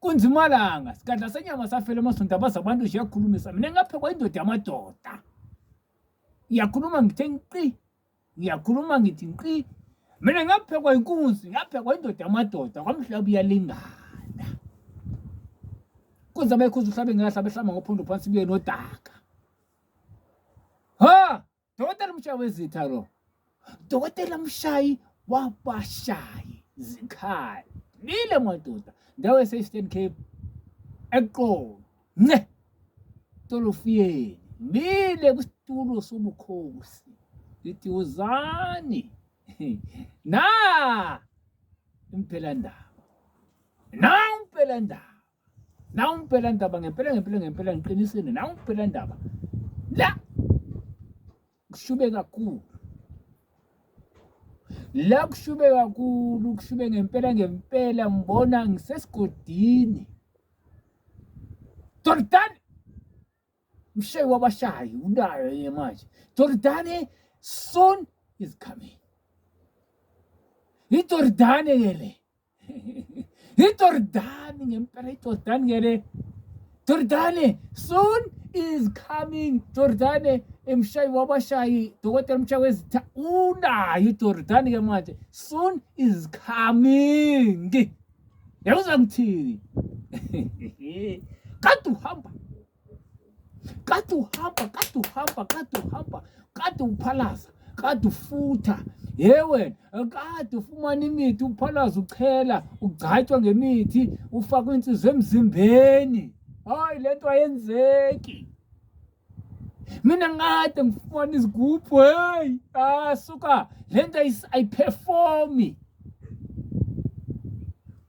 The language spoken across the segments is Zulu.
kunzimalanga sikadla senyama safela emasonto abazi abantu nje yakhulumisa mina ngaphekwa indoda yamadoda ngiyakhuluma ngithe nqi ngiyakhuluma ngithi nqi mina ngaphekwa inkunzi ngaphekwa indoda yamadoda kwamhlaba uyalingana kunze abekhuza uhlabe ngelahlabe hlamba ngophondo phansi kuye nodaka ha Dokotela umshayi wezitha lo. Dokotela umshayi wabashayi zikhali. Nile madoda ndawo ese-Eastern Cape eqolo. Nce. Tolofiyeni. Nile kusitulo sobukhosi. Lithi uzani. Na impela ndaba. Na impela ndaba. nawu ngibhela ndaba ngempela ngempela ngempela ngiqinisile nawu ngibhela ndaba la kushube kakhulu la kushube kakhulu kushube ngempela ngempela ngibona ngisesigodini Jordan mshayi wabashayi unayo yena manje Jordan soon is coming iJordane ke le Ijordani ngempela ijordani ke le Jordani soon is coming Jordani emshayi wabashayi dokotela umshayi wezitha unayo ijordani ke manje soon is coming yawuza ngithini kade uhamba kade uhamba kade uhamba kade uhamba kade uphalaza kade ufutha ye wena kade ufumana imithi uphalaza uchela ugcatshwa ngemithi ufakwa insizwa emzimbeni hayi le nto ayenzeki mina ngade ngifumana izigubhu heyi asuka ah, le nto ayiperformi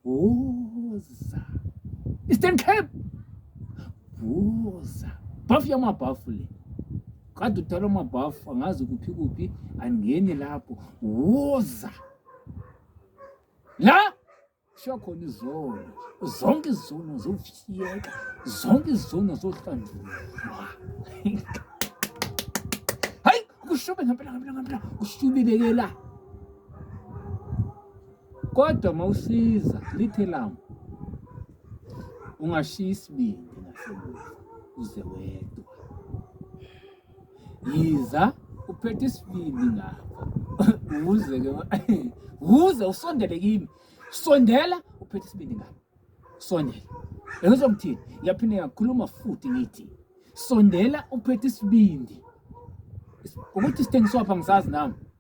Vuza. Eastern Cape. Vuza. Bhafu yamabhafu le. Kade uthwala amabhafu angazi kuphi kuphi angeni lapho. Vuza. La kushiya khona izono zonke izono zokufiyeka zonke izono zohlandulwa hayi kushube ngempela ngempela ngempela kushubile ke la Kodwa mawusiza lithe lami ungashiya isibindi nasemuva uze wedwa. Yiza uphethe isibindi ngapha uze ke uze usondele kimi. Sondela uphethe isibindi ngapha. Sondela. Yezwa ngithini? Ngiyaphinde ngakhuluma futhi ngithi sondela uphethe isibindi. Ukuthi sithengiswa pha ngisazi nami.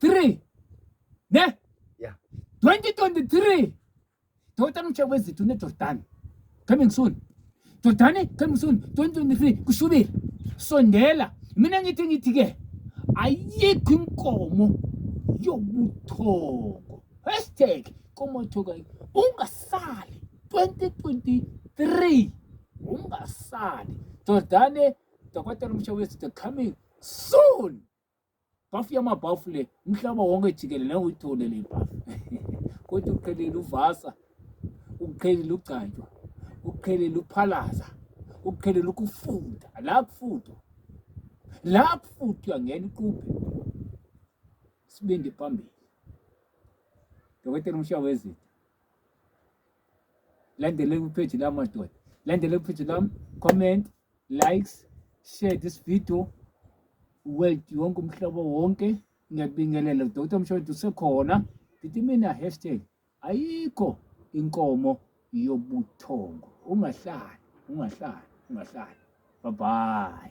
3 ne yeah 2023 Dota mchezo wezithu ne Jordan coming soon Jordani coming soon 2023 kushubile sondela mina ngithi ngithi ke ayikho inkomo yobuthongo hashtag komothoka ungasali 2023 ungasali Jordani Dr. Mshawethi the coming soon bhafu yamabhafu le umhlaba wonke jikelele uyithole le bhafu kodwa uqhelile uvasa uqhelile ugcantshwa uqhelile uphalaza uqhelile ukufunda la kufundwa la kufundwa ngena iquphe sibindi phambili dokotela umshawezinto landele kupheji lami madoda landele kupheji lami comment likes share this video world yonke umhlobo wonke ngiyakubingelela dr mshodi usekhona ndithi mina hashtag ayikho inkomo yobuthongo ungahlali ungahlali ungahlali bye bye